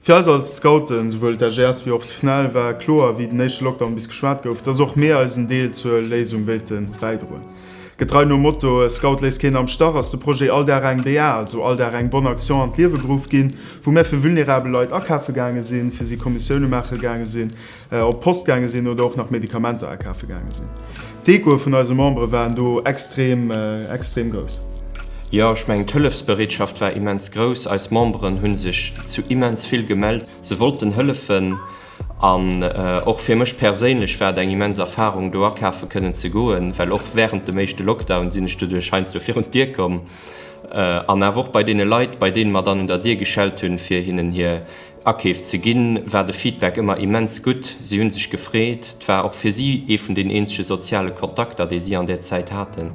Fir eis als Scouten, souwuel d'AGS wéi och d'FNEL, war kloer, wéi den éischte Lockdown bis geschwat gouf, dass och mir eisen Deel zur Léisung wéilte bäidroen. Getrei nom Motto E Scout léisst keen am Stach ass de Projet All Dag eng BA, also All Dag eng Bonne Action an d'Liewe geruff ginn, wou mir fir vulnerabel Leit akafe gaange sinn, fir si Kommissioune maache gaange sinn, op d'Post gaange sinn oder och nach Medikamenter akafe gaange sinn. D'Ecoe vun eise Membere waren do extrem, extrem grouss. Jo, ech mengen, d'Hëllefsbereetschaft war immens grouss. Eis Memberen hu sech zu immens vill gemellt. Se wollten hëllefen an och fir mech perséinlech war et eng immens Erfarung, do akafe kënnen ze goen, well och wärend dem éischte Lockdown sinn ech doduerch heiansdo virun d'Dier komm an awer och bei deene Leit, bei deene mer dann un der Dier geschellt hunn, fir hinnen hir. Akeef ze ginn, war de Feedback ëmmer immens gutt. Si hu sech gefreet. Et war och fir si ee vun den eenzege soziale Kontakter, déi si an där Zäit haten.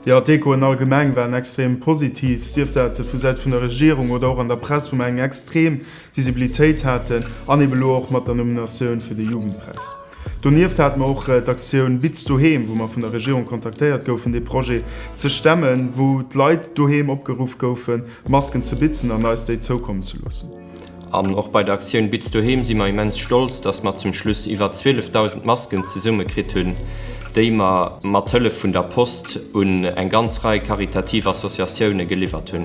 Jo, d'Echoen allgemeng waren extrem positiv, sief dat vu Säit vun der Regierung oder och an der Press, wou mer eng extrem Visibilitéit haten an eeben elo och mat der Nominatioun fir de Jugendpräis. Donieft hate mer och d'Aktioun Biz Doheem, wou mer vun der Regierung kontaktéiert goufen, dee Projet ze stemmen, wou d'Leit doheem opgeruff goufen, Masken ze bitzen an eis déi zoukommen ze loossen. An och bei der Aktioun Biz Doheem si mer immens stolz, dass mer zum Schluss iwwer 12.000 Masken zesummekritt hunn, déi mer mat Hëllef vun der Post un eng ganz Rei karitativ Associatioune geliwwert hunn.